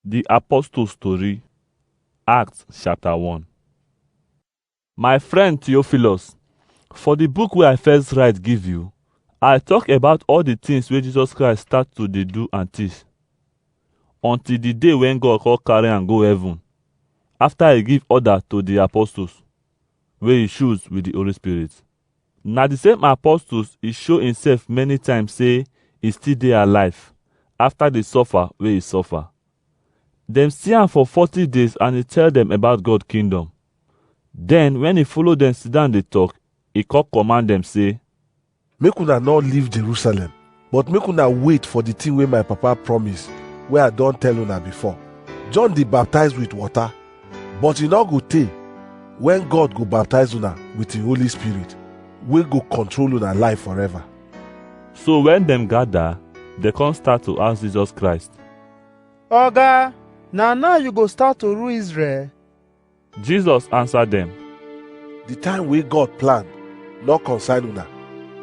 Di Apostles Tori, Acts chapter 1 My friend Theophilus, for di book wey I first write give you, I tok about all di tins wey Jesus Christ start to dey do and teach, until di day wen God come carry am go heaven, afta e give order to di apostles wey e choose wit di Holy Spirit. Na the same apostles e show himself many times say e still dey alive after the suffer wey e suffer. Dem see am for 40 days and e tell dem about God kingdom. Then when e follow dem sit down dey talk, e come command dem say, Make una no leave Jerusalem, But make una wait for the thing wey my papa promise, wey I don tell una before. John dey baptize with water, but e no go tey when God go baptize una with him Holy Spirit, wey go control una life forever. So when dem gather, they come start to ask Jesus Christ. Oga, na now you go start to rule Israel? Jesus answer dem. The time wey God plan no concern una,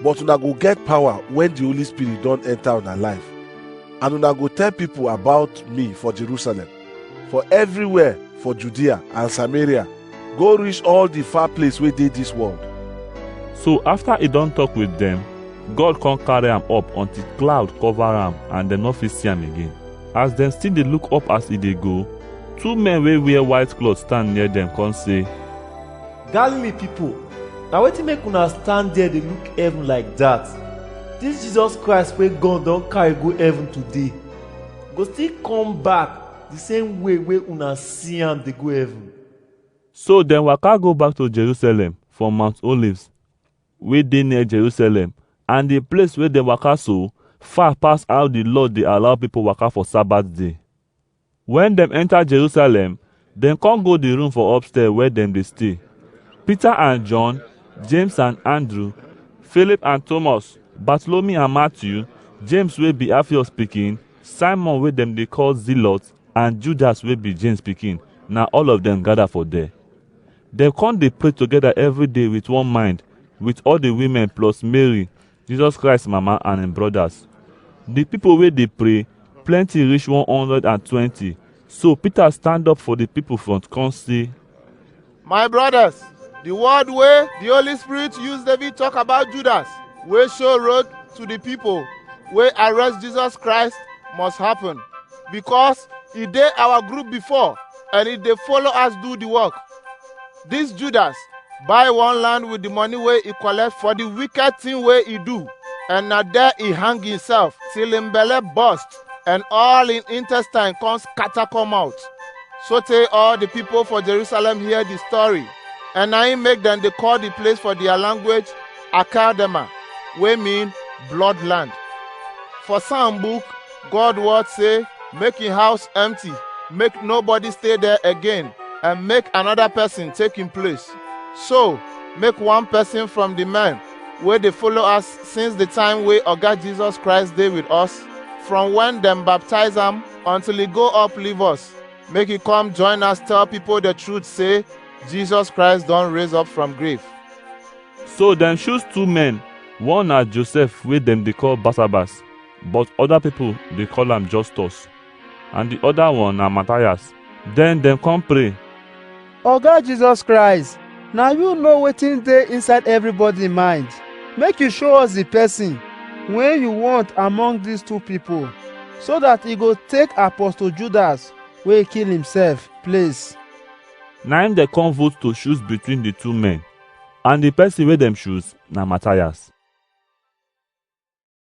but una go get power when the Holy Spirit don enter una life. And una go tell people about me for Jerusalem, for everywhere for Judea and Samaria, go reach all the far place wey dey this world. So after he don talk with dem, God come carry am up until cloud cover am and dem no fit see am again. As dem still dey look up as e dey go, two men wey wear white cloth stand near dem come say, Galilee pipo, na wetin make una stand there dey look heaven like dat? Dis Jesus Christ wey God don carry go heaven today, go still come back di same way wey una see am dey go heaven. So dem waka go back to Jerusalem from Mount Olives. wey dey near Jerusalem and the place wey dem waka so far pass how the law dey allow people waka for Sabbath day. When dem enter Jerusalem, dem come go the room for upstairs where dem dey stay. Peter and John, James and Andrew, Philip and Thomas, Bartholomew and Matthew, James wey be Alphaeus pikin, Simon wey dem dey call Zealot and Judas wey be James pikin, na all of dem gather for there. Dem come dey pray together every day with one mind, with all the women plus Mary, Jesus Christ mama and im brothers. The people wey dey pray plenty reach 120. So Peter stand up for the people front come say, My brothers, the word wey the Holy Spirit use David talk about Judas wey show road to the people wey arrest Jesus Christ must happen because e dey our group before and e dey follow us do the work. This Judas buy one land with the money wey e collect for the wicked thing wey e do, and na there e hang himself till him belle burst and all him intestine come scatter come out. Sotey all the people for Jerusalem hear the story, and na him make dem dey call the place for their language Akadema, wey mean bloodland. For some book, God word say, make him house empty, make nobody stay there again, and make another person take him place. So, make one person from the men wey dey follow us since the time wey Oga Jesus Christ dey with us, from when dem baptize am until he go up leave us, make he come join us tell people the truth say Jesus Christ don raise up from grave. So dem choose two men, one na Joseph wey dem dey call Barnabas, but other people dey call am Justus, and the other one na Matthias. Then dem come pray. Oga Jesus Christ, na you know wetin dey inside everybody mind. Make you show us the person wey you want among these two people, so that e go take Apostle Judas wey kill himself place. Na im dem come vote to choose between the two men, and the person wey dem choose na Matthias.